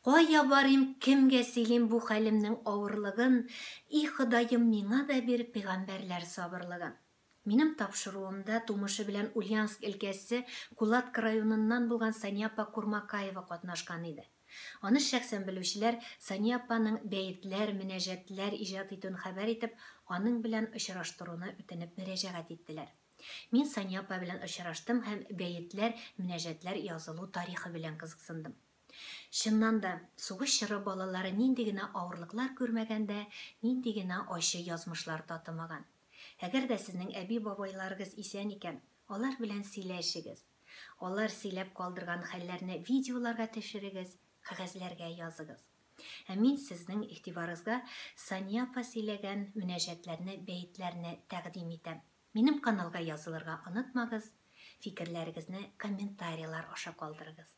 Кая барыйм, кемгә сөйлим бу хәлемнең авырлыгын, и Ходаем, миңа да бир пигамбәрләр сабырлыгын. Минем тапшыруымда тумышы белән Ульяновск өлкәсе Кулатка районыннан булган Сания апа Курмакаева катнашкан иде. Аны шәхсән белүчеләр Сания апаның бәетләр, мөнәҗәтләр иҗат итүен хәбәр итеп, аның белән очраштыруны үтенеп мөрәҗәгать иттеләр. Мин Сания апа белән очраштым һәм бәетләр, мөнәҗәтләр язылу тарихы белән кызыксындым. Чыннан да, сугыш чоры балалары нинди генә авырлыклар күрмәгән дә, нинди генә ачы язмышлар татымаган. Әгәр дә сезнең әби-бабайларыгыз исән икән, алар белән сөйләшегез. Алар сөйләп калдырган хәлләрне видеоларга төшерегез, кәгазьләргә языгыз. Ә мин сезнең игътибарыгызга Сания апа сөйләгән мөнәҗәтләрне бәетләрне тәкъдим итәм. Минем каналга язылырга онытмагыз, фикерләрегезне комментарийлар аша калдырыгыз.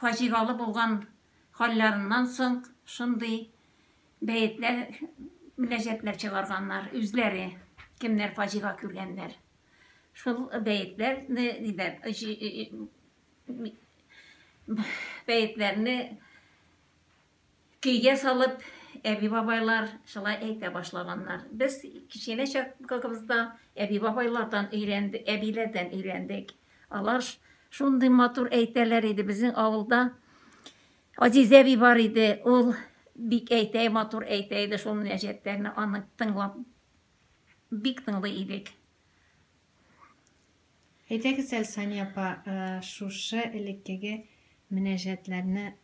фаҗигалы булган хәлләреннән соң шундый бәетләр, мөнәҗәтләр чыгарганнар үзләре, кемнәр фаҗига күргәннәр. Шул бәетләрне диләр, бәетләрне Көйгә салып, әби-бабайлар шулай әйтә башлаганнар. Без кечкенә чакыбызда әби-бабайлардан өйрәндек, әбиләрдән өйрәндек. Алар шундый матур әйтәләр иде. Безнең авылда Азизә әби бар иде. Ул бик әйтә, матур әйтә иде шул мөнәҗәтләрне. Аны тыңлап бик тыңлый идек. Әйтегез әле, Сания апа, шушы элеккеге мөнәҗәтләрне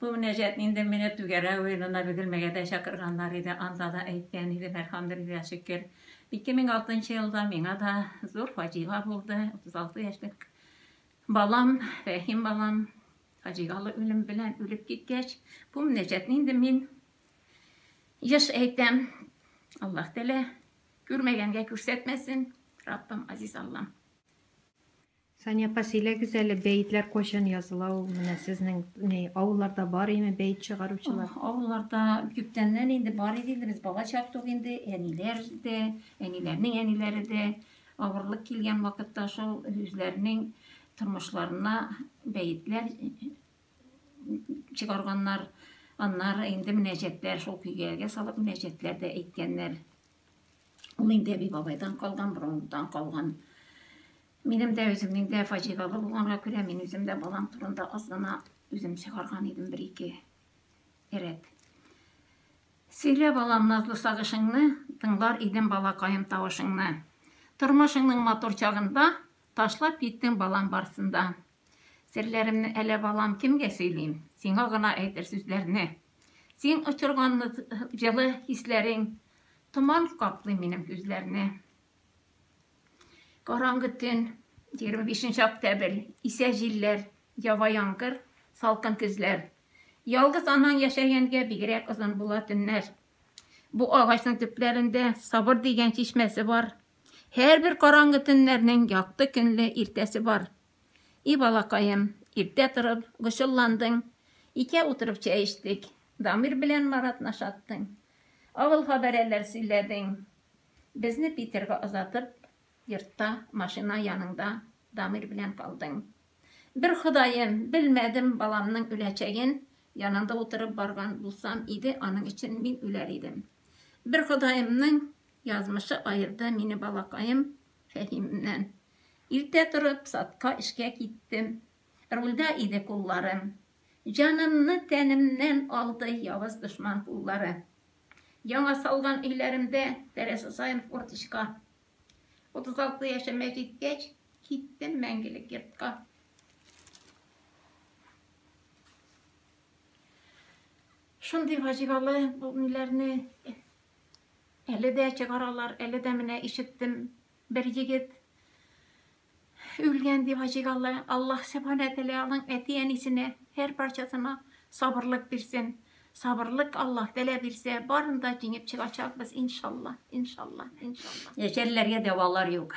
Бу мөнәҗәтне инде менә Түгәрә уенына Бөгелмәгә дә чакырганнар иде, анда да әйткән идем, әлхәмдүлилләһ шөкер. 2006 елда миңа да зур фаҗига булды. 36 яшьлек балам, Рәхим балам фаҗигалы үлем белән үлеп киткәч, бу мөнәҗәтне инде мин еш әйтәм. Аллаһ Тәгалә күрмәгәнгә күрсәтмәсен, Раббым, Азиз Аллам. Сания апа, сөйләгез әле, бәетләр кайчан языла ул? Менә сезнең ни, авылларда бар име бәет чыгаручылар? Авылларда күптәннән инде бар иде инде, без бала чак тук инде, әниләр дә, әниләрнең әниләре дә авырлык килгән вакытта шул үзләренең тормышларына бәетләр чыгарганнар. Аннары инде мөнәҗәтләр шул көйгәгә салып мөнәҗәтләр дә әйткәннәр. Ул инде әби бабайдан калган, борынгыдан калган. Минем дә үземнең дә фаҗигале булганга күрә, мин үзем дә балам турында аз гына үзем чыгарган идем бер-ике рәт. Сөйлә, балам, назлы сагышыңны, тыңлар идем балакаем тавышыңны. Тормышыңның матур чагында Ташлап киттең балам барсын да. Серләремне әле балам кемгә сөйлим, Сиңа гына әйтер сүзләрне. Син очырган җылы хисләрең, Томан каплый минем күзләрне. Караңгы төн, егерме бишенче октябрь, Исә җилләр, ява яңгыр, салкын көзләр. Ялгыз анаң яшәгәнгә бигрәк озын була төннәр. Бу агачның төпләрендә Сабыр дигән чишмәсе бар. Һәрбер караңгы төннәрнең якты көнле иртәсе бар. И балакаем, иртә торып, гошелландың, икәү утырып чәй эчтек, Дамир белән Маратны шаттың, авыл хабәрәләр сөйләдең. Безне Питерга озатып, йортта, машина яныңда Дамир белән калдың. Бер Ходаем, белмәдем, баламның үләчәген янында утырып барган булсам иде, аның өчен мин үләр идем. Бер Ходаемның Язмышы аерды мине балакаем Фәһимнән. Иртә торып, садка эшкә киттем. Рульдә иде кулларым. Җанымны тәнемнән алды явыз дошман куллары. Яңа салган өйләремдә тәрәзә саен форточка. 36 яшемә җиткәч, киттем мәңгелек йортка. Шундый фаҗигале бу миләрне Әле дә чыгаралар, әле дә менә ишеттем, бер егет үлгән дип ачык алла, Аллаһ Субхана Тәлә аның әти-әнисенә һәр парчасына сабырлык бирсен. Сабырлык Аллаһ Тәлә бирсә, барын да җиңеп чыгачакбыз, иншалла, иншалла, иншалла. Яшәрләргә дәвалар юк.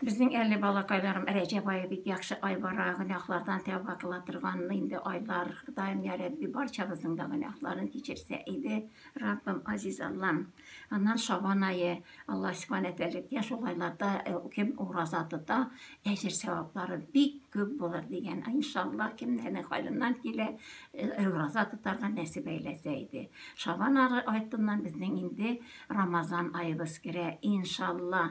Безнең әле балакайларым Рәҗәб ае бик яхшы ай бара, гөнаһлардан тәүба кыла торган инде айлар. Ходаем я Рәбби барчабызның да гөнаһларын кичерсә иде. Раббым, Азиз Аллам. Аннан Шабан ае, Алла Субхана тәләкә шул айларда э, кем ураза тота, әҗер сәваплары бик күп булыр дигән. Иншалла, кемнәрнең хәленнән килә, э, ураза тотарга нәсиб әйләсә иде. Шабан ары артыннан безнең инде Рамазан аебыз керә. Иншалла,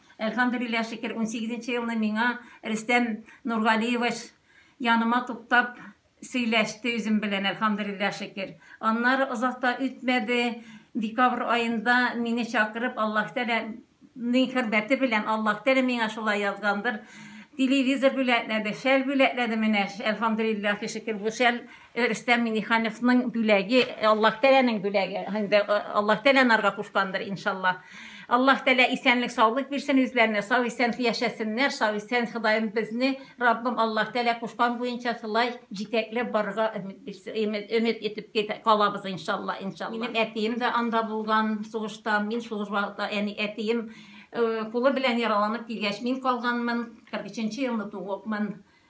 Әлхәмдүлилләһ шөкер, унсигезенче елны миңа Рөстәм Нургалиевич яныма туктап сөйләште үзем белән, әлхәмдүлилләһ шөкер. Аннары озак та үтмәде, декабрь аенда мине чакырып, Аллаһ Тәгалә ның хөрмәте белән, Аллаһ Тәгалә миңа шулай язгандыр, телевизор бүләкләде, шәл бүләкләде, менә әлхәмдүлилләһ шөкер, бу шәл Рөстәм Минихановның бүләге, Аллаһ Тәләнең бүләге. Инде э, Аллаһ Тәлә нарга кушкандыр, иншалла. Аллаһ Тәлә исәнлек, саулык бирсен үзләренә, сау исән яшәсеннәр, сау исән Ходаем безне, Раббым Аллаһ Тәлә кушкан буенча шулай җитәкләп барырга өмет бирсен, өмет, өмет итеп кит- калабыз, иншалла, иншалла. Минем әтием дә анда булган сугышта, мин сугыш вакытта, яни әтием э, кулы белән яраланып килгәч, мин калганмын, 43 елны тугыпмын.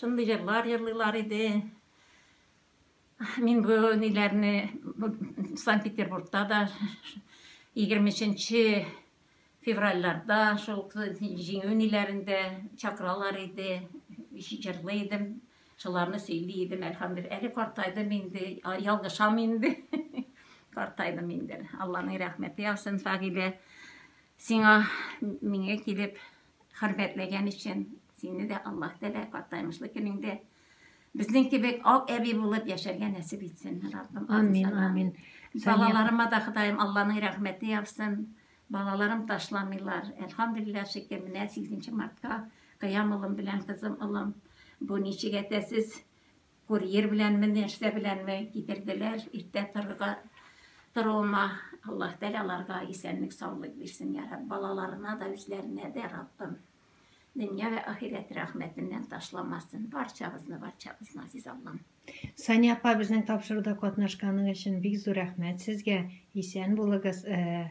Шундый җырлар җырлыйлар иде. Мин бу ниләрне Санкт-Петербургта да 23 февральларда шул җиңү ниләрендә чакыралар иде, җырлый идем, шуларны сөйли идем, әлхәмдулилла. Әле картайдым инде, ялгышам инде. Картайдым инде. Алланың рәхмәте яусын, Фагилә. Сиңа миңа килеп Хөрмәтләгән өчен сине дә Аллаһ Тәгалә картаймышлы көнеңдә безнең кебек ак әби булып яшәргә нәсип итсен, Раббым. Амин, амин. Балаларыма да Ходаем Алланың рәхмәте яусын. Балаларым ташламыйлар. Әлхамдулилла шөкер, менә 8 мартка Кыям улым белән кызым, улым, бу ничек әтәсез Курьер беләнме, нәрсә беләнме китерделәр, иртә торырга торуыма Аллаһ Тәгалә аларга исәнлек, саулык бирсен, я Рабб, балаларына да, үзләренә дә, Раббым, дөнья вә ахирәт рәхмәтеннән ташламасын барчабызны, барчабызны, Азиз Аллам. Сания апа, безнең тапшыруда катнашканың өчен бик зур рәхмәт сезгә. Исән булыгыз. Э,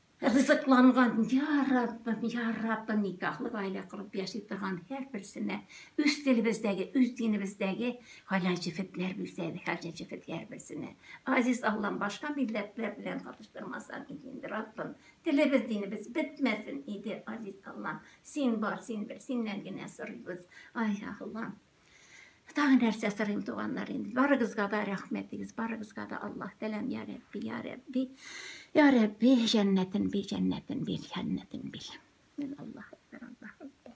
Ризыкланган, я Раббым, я Раббым, никахлы гаилә корып яши торган һәрберсенә үз телебездәге, үз динебездәге хәләл җефетләр бирсә, хәләл җефет һәрберсенә. Азиз Аллам, башка милләтләр белән катыштырмасаң иде инде, Раббым. Телебез, динебез бетмәсен иде, Азиз Аллам. Син бар, син бел, синнән генә сорыйбыз. Ай, Аллам. Тагы нәрсә сорыйм, туганнар, инде барыгызга да рәхмәт дигез, барыгызга да Аллаһ тәләм, я Рәбби, я Рәбби, я Рәбби, җәннәтен бир, җәннәтен бир, җәннәтен бир. Мин Аллаһ әкбәр, Аллаһ әкбәр.